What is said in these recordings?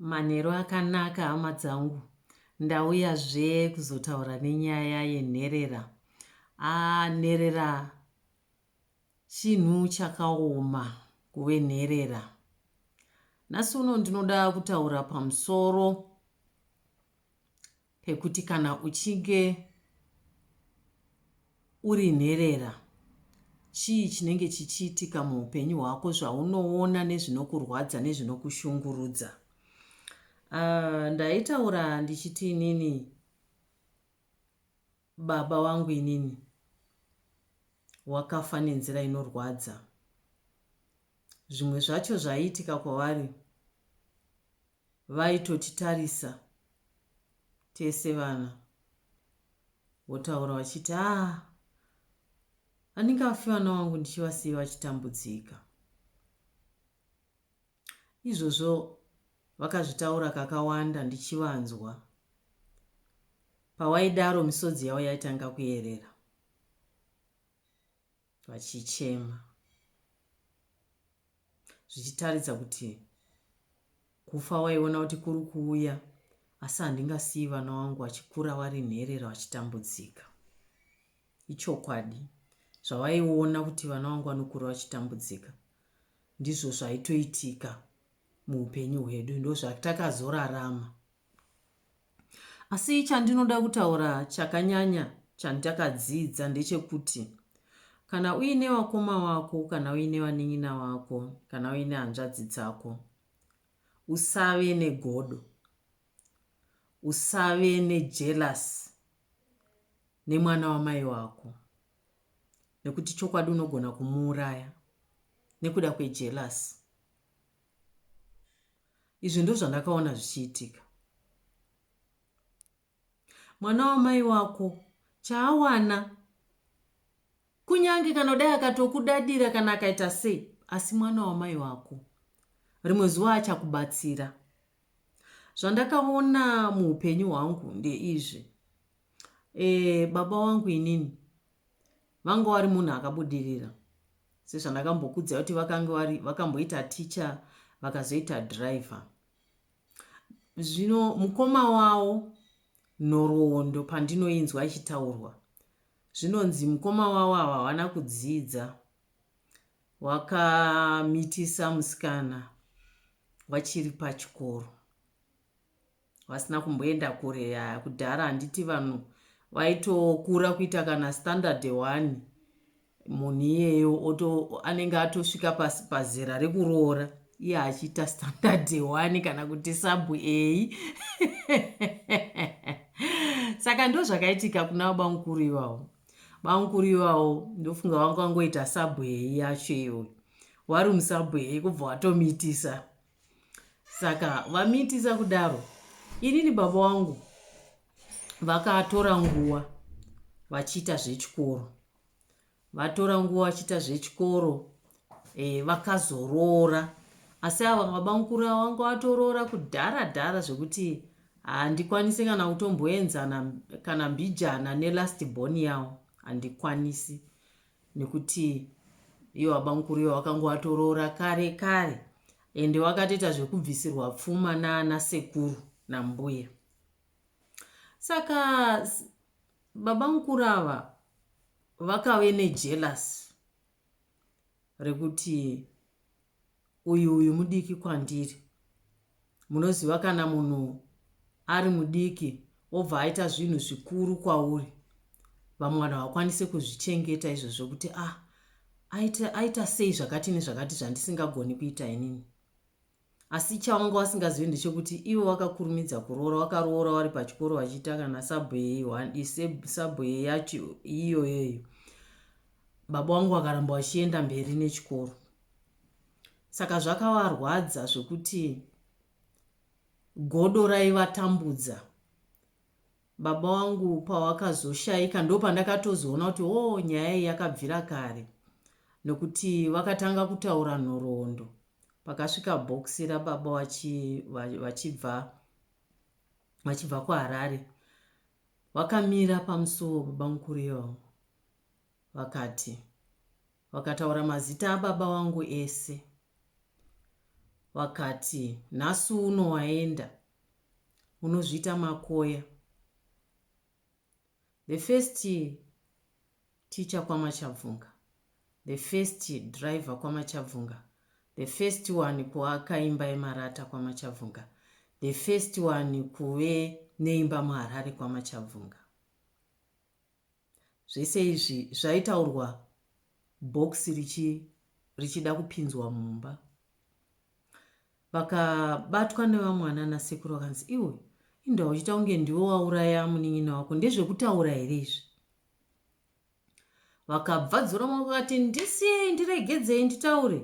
Manheru akanaka hama dzangu ndauya zve kuzotaura nenyaya yenherera ah nherera chinhu chakaoma kuve nherera nhasi uno ndinoda kutaura pamusoro pekuti kana uchinge uri nherera chii chinenge chichiitika muupenyu hwako zvaunoona nezvinokurwadza nezvinokushungurudza uh, ndaitaura ndichiti inini baba wangu inini wakafa nenzira inorwadza zvimwe zvacho zvaiitika kwavari vaitotitarisa tese vana votaura vachiti aa andingafi vana vangu ndichivasiyi vachitambudzika izvozvo vakazvitaura kakawanda ndichivanzwa pawaidaro misodzi yavo yaitanga kuyerera vachichema zvichitaridza kuti kufa waiona kuti kuri kuuya asi handingasiyi vana wangu vachikura vari nherera vachitambudzika ichokwadi zvavaiona kuti vana vangu vanokura vachitambudzika ndizvo zvaitoitika muupenyu hwedu ndozvatakazorarama Asi chandinoda kutaura chakanyanya chandakadzidza ndechekuti kana uine vakoma vako kana uine vanin'ina vako kana uine hanzvadzi dzako usave negodo usave nejelasi nemwana wamai wako nekuti chokwadi unogona kumuuraya nekuda kwejelasi Izvi ndozvandakaona zvichiitika. Mwana wamai wako chaawana kunyange kana kudai akatokudadira kana akaita sei asi mwana wamai wako rimwe zuva achakubatsira zvandakaona muupenyu hwangu ndeizvi e, baba wangu inini vanga vari munhu akabudirira sezvandakambokudzai kuti vakange vari vakamboita ticha vakazoita driver zvino mukoma wawo nhoroondo pandinoinzwa ichitaurwa zvinonzi mukoma wawo ava havana kudzidza wakamitisa musikana vachiri pachikoro vasina kumboenda kure ya kudhara handiti vanhu vaitokura kuita kana standard one munhu iyeyo oto anenge atosvika pazera rekuroora iye achiita standard one kana kuti sabu ei saka ndo zvakaitika kuna baba mukuru ivawo baba mukuru ivawo ndofunga vanga vangoita sabu ei yacho iyoyo wari musabwei kubva watomiitisa saka vamiitisa kudaro inini baba wangu vakatora nguva vachiita zvechikoro vatora nguva vachiita zvechikoro e, vakazoroora asi ava baba mukuru ava vanga vatoroora kudhara dhara zvekuti handikwanisi kana kutomboenzana kana mbijana nelast born yavo handikwanisi nekuti iyo babamukuru iyo wakanga watoroora kare kare ende wakatoita zvekubvisirwa pfuma naana sekuru nambuya saka babamukuru ava vakave nejelasi rekuti uyu uyu mudiki kwandiri munoziva kana munhu ari mudiki obva aita zvinhu zvikuru kwauri vamwe vanhu havakwanise kuzvichengeta izvo zvokuti a ah, aita, aita sei zvakati nezvakati zvandisingagoni kuita inini asi chawanga wasingazivi ndechekuti ivo vakakurumidza kuroora wakaroora wari pachikoro vachiita kana sabhuye yacho iyoyeyo baba wangu vakaramba vachienda mberi nechikoro saka zvakavarwadza zvekuti godo raivatambudza baba wangu pavakazoshaika ndo pandakatozoona kuti o oh, nyaya iyi yakabvira kare nokuti vakatanga kutaura nhoroondo pakasvika bhokisi rababa vachibva vachibva kuharare vakamira pamusuwo baba mukuru iyovo vakati, Vakataura mazita ababa vangu ese. Vakati, Nhasi uno waenda, unozviita makoya. The first teacher kwaMachabvunga, the first driver kwaMachabvunga, the first one kuaka imba yemarata kwaMachabvunga, the first one kuve neimba muharare kwaMachabvunga. Zvese izvi zvaitaurwa box richi richida kupinzwa mumba. Vakabatwa nevamwana nasekuru vakanzi iwe inda uchita kunge ndiwe wauraya munin'ina wako ndezvekutaura here izvi vakabva dzora maoko vakati ndisiyei ndiregedzei nditaure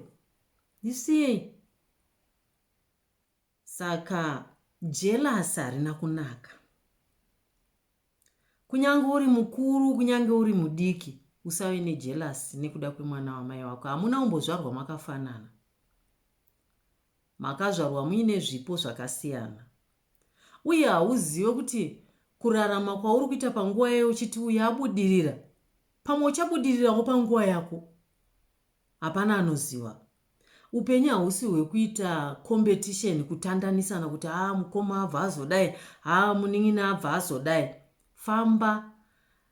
ndisiyei Saka jealous harina kunaka. Kunyange uri mukuru, kunyange uri mudiki, usave nejealous nekuda kwemwana wamai wako. Hamuna umbozvarwa makafanana. Makazvarwa muine zvipo zvakasiyana. Uye hauzive kuti kurarama kwauri kuita panguva yayo uchiti uyabudirira pamwe uchabudirirawo panguva yako Hapana anoziva. Upenyu hausi hwekuita competition kutandanisana kuti haa mukoma abva azodai haa munin'ina abva azodai. Famba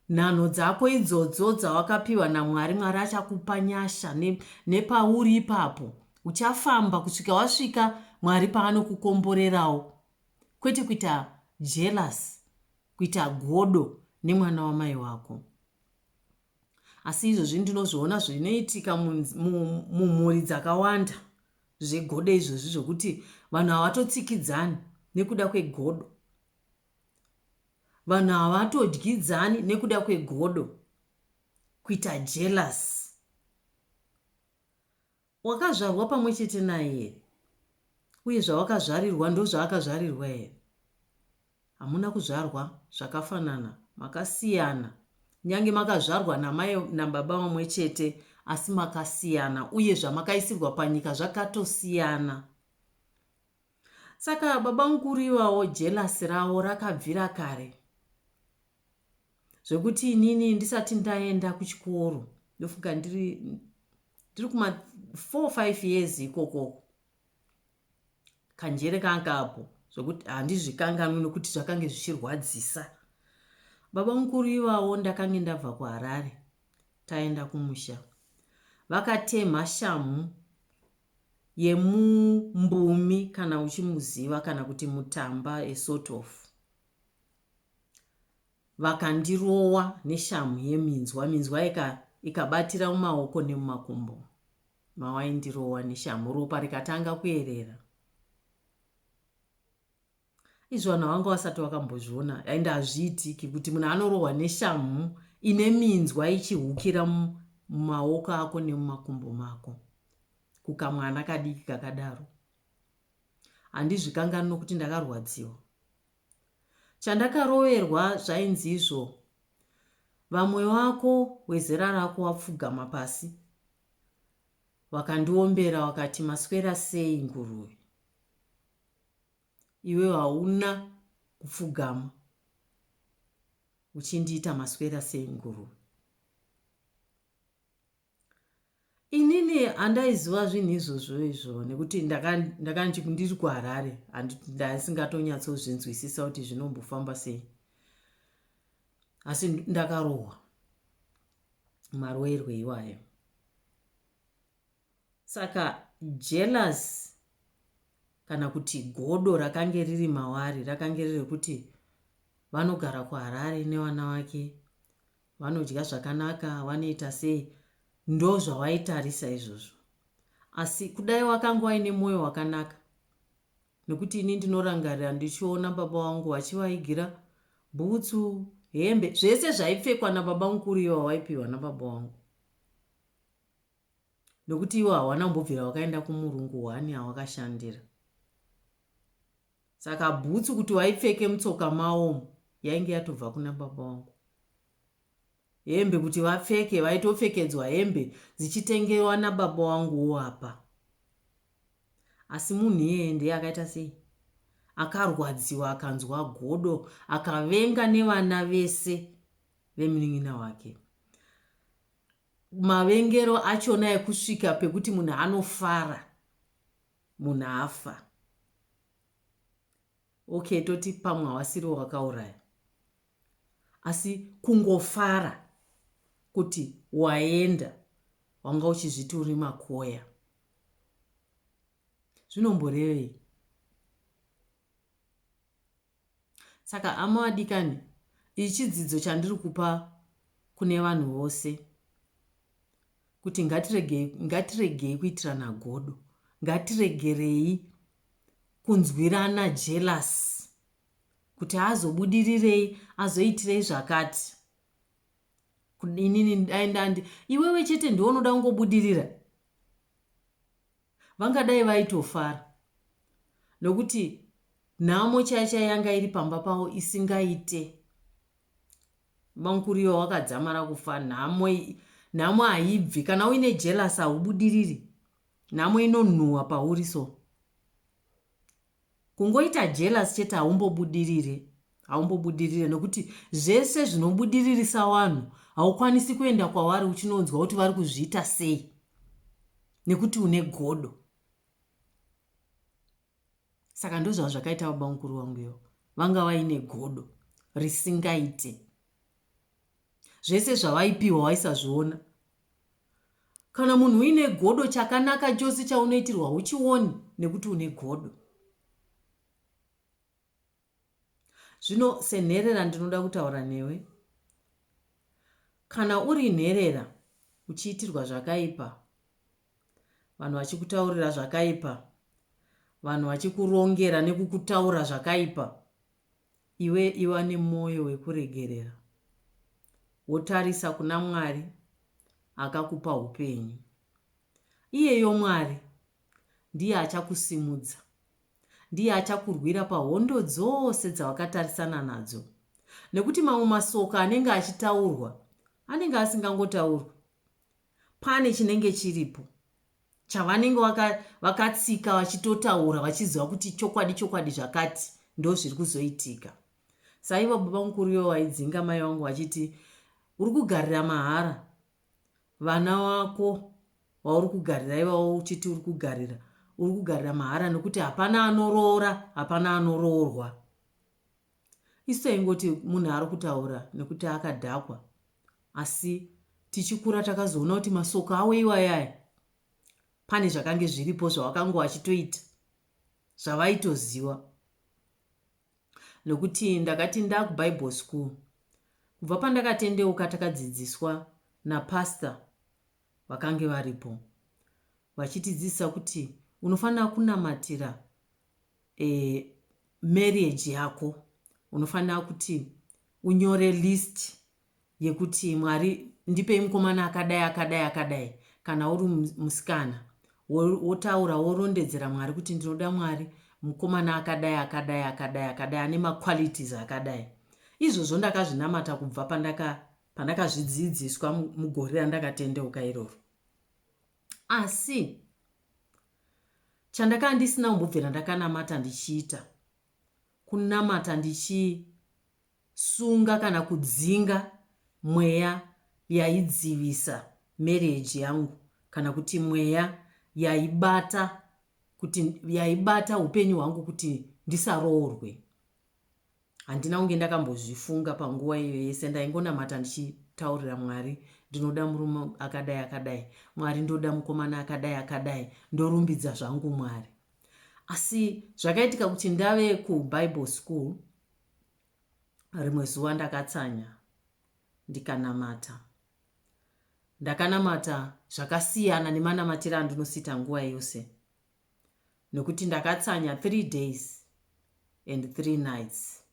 nhanho dzako idzodzo dzawakapiwa namwari mwari achakupa nyasha nepauri ipapo uchafamba kusvika wasvika mwari paanokukomborerawo kwete kuita jealous kuita godo nemwana wamai wako Asi izvozvi ndinozviona zvinoitika mumhuri dzakawanda zvegodo izvozvi zvokuti vanhu havatotsikidzani nekuda kwegodo vanhu havatodyidzani nekuda kwegodo kuita jealous Wakazvarwa pamwe chete naye here? Uye zvawakazvarirwa ndozvaakazvarirwa here? Hamuna kuzvarwa zvakafanana, makasiyana. Nyange makazvarwa namai nababa vamwe chete, asi makasiyana, uye zvamakaisirwa panyika zvakatosiyana. Saka baba mukuru ivawo jelasi ravo rakabvira kare. zvekuti inini ndisati ndaenda kuchikoro ndofunga ndiri ndiri kuma four five years ikokoko kanjere kanga apo zvekuti handizvikanganwi nokuti zvakange zvichirwadzisa baba mukuru ivawo ndakange ndabva kuharare taenda kumusha vakatemha shamhu yemumbumi kana uchimuziva kana kuti mutamba esort of vakandirowa neshamhu yeminzwa minzwa ika ikabatira mumaoko nemumakumbo mawaindirowa neshamhu ropa rikatanga kuerera izvo vanhu vanga vasati vakambozviona dai ndazviitiki kuti munhu anorohwa neshamhu ine minzwa ichihukira mumaoko ako nemumakumbo mako kukamwana kadiki kakadaro handizvikanganwi nokuti ndakarwadziwa Chandakaroverwa zvainzi izvo vamwe vako wezera rako wapfugama pasi wakandiombera wakati maswera sei nguruve iwe hauna kupfugama uchindiita maswera sei nguruve inini andaiziva zvinhu izvozvo izvo nekuti ndakanzi ndiri kuharare ndaisingatonyatsozvinzwisisa kuti zvinombofamba sei asi ndakarohwa maroerwe iwayo saka jealous kana kuti godo rakange riri mawari rakange riri rekuti vanogara kuharare nevana vake vanodya zvakanaka vanoita sei ndozvawaitarisa izvozvo asi kudai wakanga waine mwoyo wakanaka nekuti ini ndinorangarira ndichiona baba wangu vachivaigira bhutsu hembe zvese zvaipfekwa nababa mukuru ivo vavaipiwa nababa wangu nokuti iwo hawana kumbobvira wakaenda kumurungu hwani awakashandira saka bhutsu kuti waipfeke mutsoka maomu yainge yatobva kuna baba wangu hembe kuti vapfeke vaitopfekedzwa hembe dzichitengewa nababa wanguwo apa asi munhu iyeye ndiye akaita sei akarwadziwa akanzwa godo akavenga nevana vese vemunin'ina wake mavengero achona ekusvika pekuti munhu anofara munhu afa okay toti pamwe hawasiriwo wakauraya asi kungofara kuti waenda wanga uchizviti uri makoya zvinomborevei Saka hama vadikani ichi chidzidzo chandiri kupa kune vanhu vose kuti ngatiregei ngatiregei kuitirana godo ngatiregerei kunzwirana jealous kuti azobudirirei azoitirei zvakati inini dai ndandi iwewe chete ndiwe unoda kungobudirira Vangadai vaitofara nokuti nhamo chaiyo chaiyo yanga iri pamba pavo isingaite. Bamukuru ivo vakadzamara kufa nhamo nhamo haibvi kana uine jealous haubudiriri nhamo inonhuhwa pauri so Kungoita jealous chete haumbobudirire haumbobudirire nokuti zvese zvinobudiririsa wanhu haukwanisi kuenda kwawari uchinonzwa kuti vari kuzviita sei nekuti une godo saka ndozvava zvakaita baba mukuru wangu ivo vanga vaine godo risingaite zvese zvavaipiwa waisazviona Kana munhu uine godo chakanaka chose chaunoitirwa huchioni nekuti une godo. Zvino senherera ndinoda kutaura newe. Kana uri nherera uchiitirwa zvakaipa, vanhu vachikutaurira zvakaipa, vanhu vachikurongera nekukutaura zvakaipa, iwe iva nemwoyo wekuregerera wotarisa kuna mwari akakupa upenyu iyeyo mwari ndiye achakusimudza ndiye achakurwira pahondo dzose dzawakatarisana nadzo nekuti mamwe masoka anenge achitaurwa anenge asingangotaurwi pane chinenge chiripo chavanenge vaka, vakatsika vachitotaura vachiziva kuti chokwadi chokwadi zvakati ndo zviri kuzoitika saiva baba mukuru ivo vaidzinga mai vangu vachiti uri kugarira mahara vana wako wauri kugarira ivawo uchiti uri kugarira uri kugarira mahara nekuti hapana anoroora hapana anoroorwa Isu taingoti munhu ari kutaura nekuti akadhakwa asi tichikura takazoona kuti masoko awo iwayaya pane zvakange zviripo zvavakanga vachitoita zvavaitoziva nokuti ndakati ndakubible school kubva pandakatendeuka takadzidziswa napastor vakange varipo vachitidzidzisa kuti unofanira kunamatira e, marriage yako unofanira kuti unyore list yekuti mwari ndipei mukomana akadai akadai akadai kana uri musikana wotaura worondedzera mwari kuti ndinoda mwari mukomana akadai akadai akadai akadai ane maqualities akadai izvozvo ndakazvinamata kubva pandakazvidzidziswa mugore randakatendeuka iroro asi chandakanga ndisina kumbobvira ndakanamata ndichiita kunamata ndichisunga kana kudzinga mweya yaidzivisa marriage yangu kana kuti mweya yaibata kuti yaibata upenyu hwangu kuti ndisaroorwe Handina kunge ndakambozvifunga panguva iyo yese, ndaingonamata ndichitaurira Mwari, ndinoda murume akadai akadai, Mwari ndoda mukomana akadai akadai, ndorumbidza zvangu Mwari. Asi zvakaitika kuti ndave kuBible school, rimwe zuva ndakatsanya ndikanamata. Ndakanamata zvakasiyana nemanamatira andinosita nguva yose. nokuti ndakatsanya three days and three nights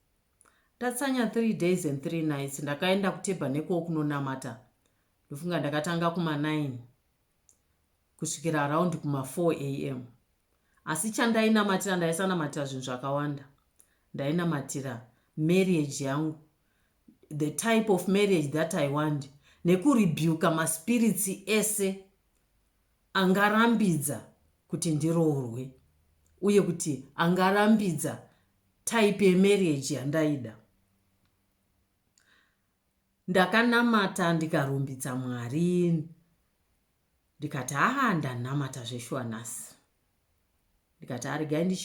ndatsanya three days and three nights ndakaenda kutebha nekuwo kunonamata ndofunga ndakatanga kuma9 kusvikira araundi kuma4 a m asi chandainamatira ndaisanamatira zvinhu zvakawanda ndainamatira marriage yangu the type of marriage that i want nekurebuka maspirits ese angarambidza kuti ndiroorwe uye kuti angarambidza type yemarriage yandaida ndakanamata ndikarumbidza mwari ndikati haa ndanamata zveshuwa nhasi ndikati arigai ndichi